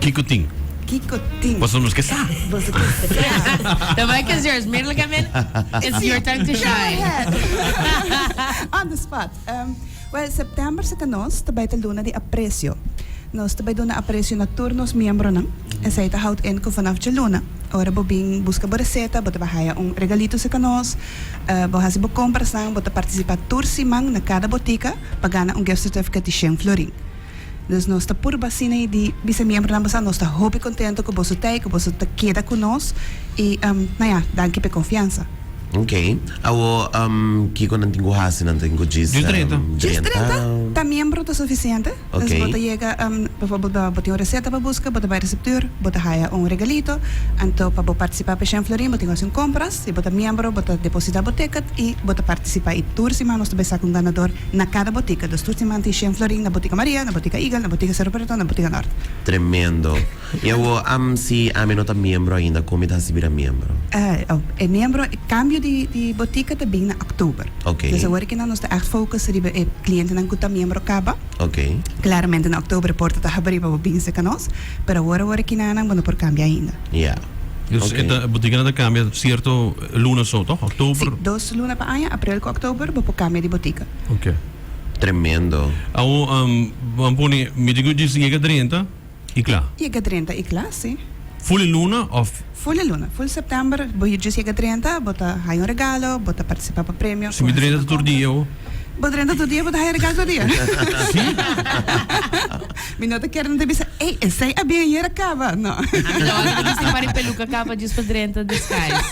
Kiko tin? Kiko tin? Paso nos ke sa. Boso ke sa. Yeah. The mic is yours. Meerly come in. It's your time to shine. Go ahead. On the spot. Um, well, September se ta nos ta bai ta luna di aprecio. Nos ta bai duna aprecio na tur nos miembronan. Esei ta houd in ku vanaf djeluna, ora bo bin buska bo reseta, bo ta bai haya un regalito se ka nos. Uh, bo hasi bo komprasnan, bo ta partisipa tur siman na kada botika pa gana un gift certificate di shen florin. Dus nos ta puru basina y di bisa miembronan bo sa nos ta hopi contento cu boso ta ey cu boso ta keda cu nos y na ya danki p'e confiansa. Ok, awo kico nan tin cu haci? Nan tin cu djis drenta? Ta miembro ta suficiente, dus bo ta yega bijvoorbeeld bo tin un receta pa busca bo ta bay receptuur bo ta haya un regalito, anto pa bo participa p'e Shen Florin bo tin cu haci un compra, Si bo ta miembro, bo ta deposita bo ticket y bo ta participa y tur siman nos ta bay saca un ganador na cada botica. Dus tur siman tin shen florin na Botica Maria, na Botica Eagle, na Botica Cerro Preto, na Botica Norte. Tremendo. Y awo am si ami no ta miembro ainda con mi ta haci bira miembro? E miembro, e cambio di botica ta bin na oktober. Dus awor kinan nos ta echt focus riba e clientenan cu ta miembro caba. Claramente na oktober e porta ta habri pa bo bin seca nos. Pero awor awor e kinanan bo no por kambia ainda. Ya. Dus e ta, bo tin kende ta kambia sierto luna so tòg? Oktober? Si, dos luna pa aña, aprel ku oktober, bo por kambia di botika. Oke. Tremendo. Awo bo a pone mi tin ku djis yega drenta i kla? Yega drenta i kla, si. Fuli luna òf? Ful e luna, ful september, bo hir djis yega drenta, bo ta haya un regalo, bo ta participa pa premio, cu haciendo compra. Si mi drenta tur dia, ho? Bo drenta tur dia, bo ta haya regalo tur dia. Si? Mi no ta ker nan ta bisa, ey, esey a bien ayer a caba, no. Ami lo anto di si pa ri peluca caba djis pa drenta descais.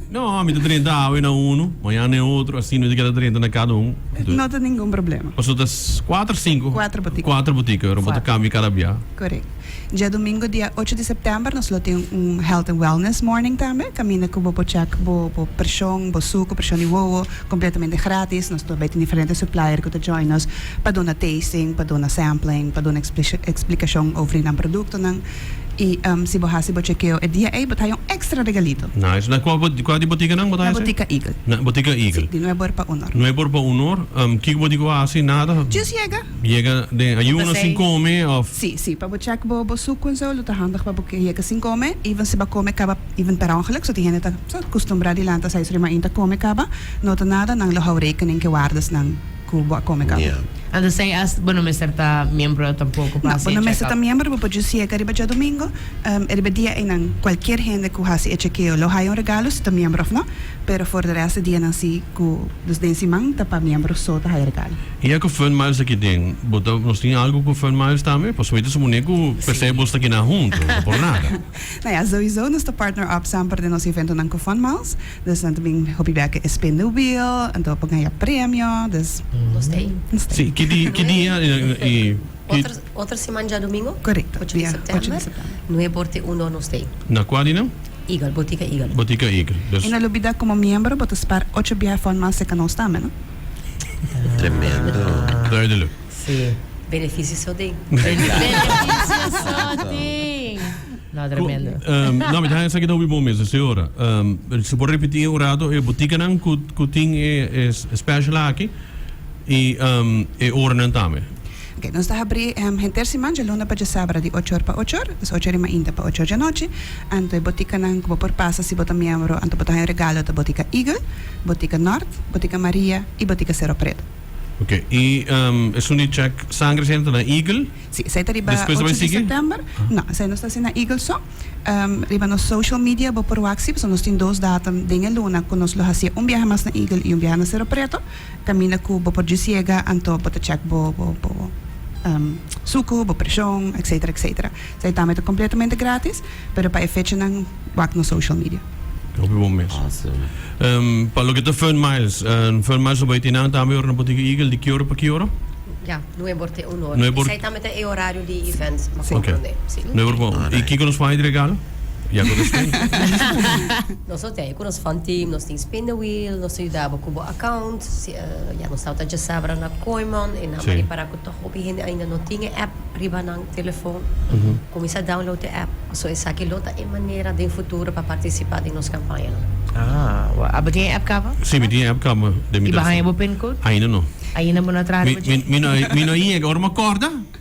No, mi ta drenta awe na uno, mañana na e otro, así no ta keda drenta na cada un. No ta ningun problema. Pasobra ta cuatro, cinco. Cuatro botica. Cuatro botica, bo ta cambia cada bia. Corect. Diadomingo dia ocho di september nos lo tin un health and wellness morning tambe caminda cu bo por check bo bo presion bo suco presion di wowo completamente gratis nos ta bay tin diferente supplier cu ta join nos pa duna tasting pa duna sampling pa duna explicacion over nan productonan y si bo haci bo chekeo e dia ey bo ta haya un extra regalito. Nice na cua cua di boticanan bo ta haci? Na botica eagle. Na botica eagle. Si di nueber pa honor. Nueber pa honor kiko bo dico haci nada. Just yega. Mi yega den ayuno sin come of. Sí, sí, pa bo check bo bo suku en zo lo ta handig pa bo ke yega sin come, even si bo a come kaba even per ongeluk, so tin hende ta so kustumbrá di lanta seis ora di mainta come kaba, no ta nada, nan lo hou rekening ke wardanan ku bo a come kaba. Entonces as bo no mester ta miembro tampoko pa hasi e check up? No, bo no mester ta miembro, bo por djus yega riba djadumingu, e riba e dia einan kualkier hende ku hasi e chekeo lo haya un regalo si ta miembro of no, pero for de rest e dianan si ku dus den siman ta pa miembro so ta haya regalo. Y a cu Fun Miles ta kiden? Bo ta, nos tin algo cu Fun Miles tambe? Por sumita su muné cu p'esei Sí. abos ta kina hunto, no por nada. Nou ja, souiso nos ta partner up samper den nos eventonan cu Fun Miles. Dus nan ta bin hopi beke e spin the wheel, anto pa gaya premio. Dus, Nos ta ahí. nos ta Sí, ahí. ki di, ki dia y, y ki, Otro, otro siman diadomingo. Correcto, Ocho di dia ocho di september. september. Nuebe or te uno nos ta ahí. na cua di nan? Eagle, Botica Eagle. Botica Eagle. Y Dus, no lubida como miembro bo ta spar ocho biaha Fun Miles seca nos tambe, no? Tremendo. Duidelijk. Sí. Beneficio so ding. Beneficio so ding. No, tremendo. no, mi ta haña esaki ta hopi bon mes, señora. Um, si por repeti un rato, e botikanan ku, ku tin e, e special aki, i um, e oranan tambe. Ok, nos ta habrí henter siman dje luna pa dje sábra di ocho or pa ocho or, des ocho rimainta pa ocho or dje anochi. Anto e botikanan ku bo por pasa si bo ta miembro, anto bo ta haña regalo ta Botika Eagle, Botika Nort, Botika Maria i Botika Sero Preto. Ok, i esun di chèk sangre esei anto na Eagle? Sí, esei ta riba ocho di sèptèmber. Despues ta bai sigui? No, esei nos ta hasi na Eagle so. Riba nos social media bo por wak si, pasobra nos tin dos datum den e luna ku nos lo hasié un biaha mas na Eagle i un biaha na Sero Preto. Camina cu bo por djis yega anto bo ta check bo sucu, bo presion, etcetera, etcetera. Sa e tambe ta completamente gratis, pero pa e fechanan wak nos social media. Hopi bon mes. Pa loke ta Fern Miles, Fern Miles lo bay tin nan tambe ora nan por tin cu Eagle di ki ora pa ki ora? Ya, nueve or te un ora. Sa e tambe ta e horario di event pa comprende. Nueve or pa un ora. Y kico nos por hay di regalo? Ya cu ta stay. Nos lo te. Cu nos fund team nos tin spin the wheel nos ta yuda bo cu bo account ya nos tawata djesa abra na Kooimon y nan mari si para cu tok hopi hende ainda no tin e app riba nan telefon cuminsa download e app so esaki lo ta e manera den futuro pa participa den nos campaña nan. Aa abo tin e app caba? Si mi tin e app caba den mi telefon. Y bo haña bo pin code? Ainda no. Ainda bo no a traha riba dje? Mi no a yega ora mi a corda.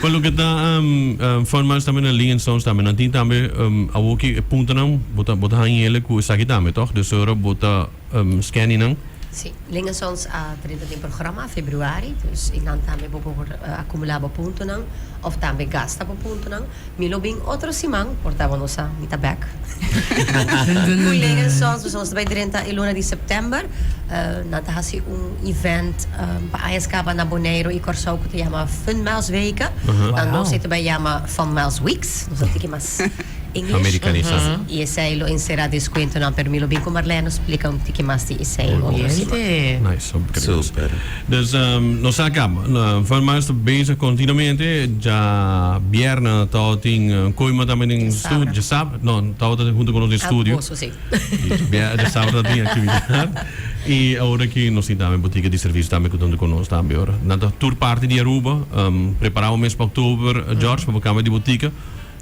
Pa loke ta um, um, Fun March tambe na Lingen Stones tambe nan tin tambe um, awo ki e puntonan bo ta bo ta han yele ku esaki tambe toch dus ora bo ta um, scanny nan Sí, Lingen Sons a trinta tin programa a februari, dus i nan tambe bo por eh, acumula bo puntonan of tambe gasta bo puntonan. Mi lo bin otro siman por tabo nos sa mi ta back. Cu Leren Sons nos ta bai drenta e luna di September. Nan ta haci un event pa aña scaba na Boneiru y Corsou cu ta yama Fun Maus Weken. Na nos ei ta bai yama Fun Maus Weeks. Nos a tiki mas English. Americanisa. Y esey lo encera descuentonan pero mi lo bin cu Marlene nos splica un tiki mas di esey otro siman. Nice. Super. Dus nos sa kaba. Van Mars ta bezig kontinuamente. Dja bierna Tao tin koima tambe den studio. Dja sabra. No, Tao ta hunto ku nos den studio. Almuerso, si. I dja sabra ta tin aktividat. I ora ki nos tin tambe butika di servicio tambe ku ta hunto ku nos tambe ora. Nan ta tur parti di Aruba. Prepará bo mes pa Oktober, George, pa bo kamba di butika.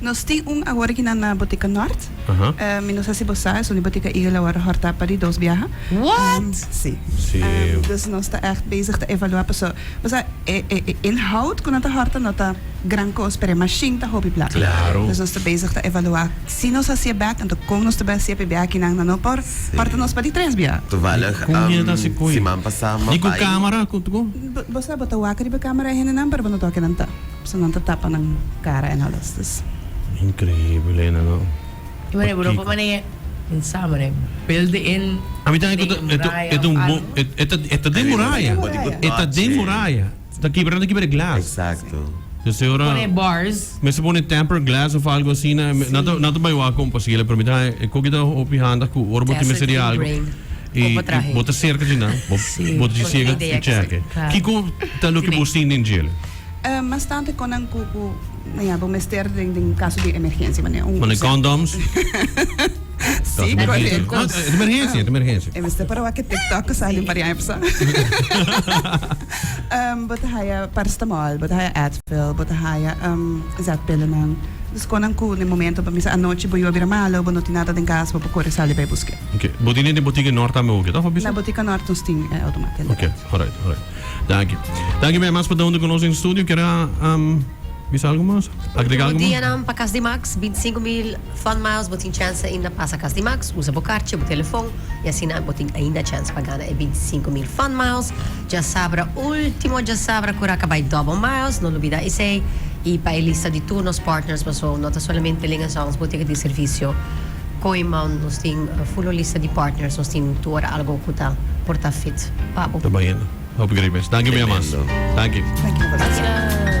Nos tin un awor aki nan na Botica Nort. Mi no sa si bo sa, esuni Botica Eagle awor a horta pa di dos biaha. What? Si. Si. Dus nos ta echt bezig ta evalua paso, bo sa, e e inhoud ku nan ta horta no ta gran kos, pero e mashin ta hopi plaka. Claro. Dus nos ta bezig ta evalua si nos a siye bek, anto kon nos ta bai a siye pa e biaha aki nan na no por horta nos pa di tres biaha. Toevallig, siman pasa mi bai. Ni ku camera ku tuko? Bo sa, bo ta wak riba camera e hendenan, pero bo no ta oke nan ta. Personanan ta tapa nan cara en Alestis. Increíble nan no. I mane bro pa mane pensa mane bel de en den muraya of algo. E ta den muraya. E ta den muraya. Ta kibra ta kibra e glas. Pues e ora. Pone bars. Mester pone tempered glass of algo asina. Nan ta bai wak como posible pero mi ta haña e koki ta hopi handig ku ora bo tin mester di algo. E bo ta serka dje nan, bo ta siga e txeke. Kiko ta loke bo sin den djele? Mas tantu kon nan ku bo mester den kaso di emergensia. Bo ne kondoms? Si, koreko. Emergensia, ta emergensia. E mester para wak e TikTok ku sali parian e persoan. Bo ta haya parstamol, bo ta haya Advil, bo ta haya zètpillenan. Dus kon nan ku den momento, pa mester anochi bo yuwe a bira malu, bo no tin nada den kas, bo por kore sali bai busk'e. Ok. Bo tin den e botica Nort tambe hoga, ta Fabricio? Na botica Nort nos tin e automata inderdaad. Ok, alright, alright. Danki. Danki bay mas pa ta hunde cu nos in studio. Kier a bisa algo mas? Agrega algo mas? Ultimo dianan pa Cas di Max, binti sinku mil Fun Miles, bo tin chance ainda pasa Cas di Max, usa bo karchi, bo telefon, y asina bo tin ainda chance pa gana e binti sinku mil Fun Miles. Djasabra, ultimo djasabra cura ca bay Double Miles, no lubida esey, y pa e lista di tur nos partners, paso no ta solamente Linx & Songs botica di servicio, Kooiman nos tin full lista di partners nos tin tur algo cu ta por ta fit pa bo. Ta baña hopi grey mes. Danki mi amas. Danki. Danki.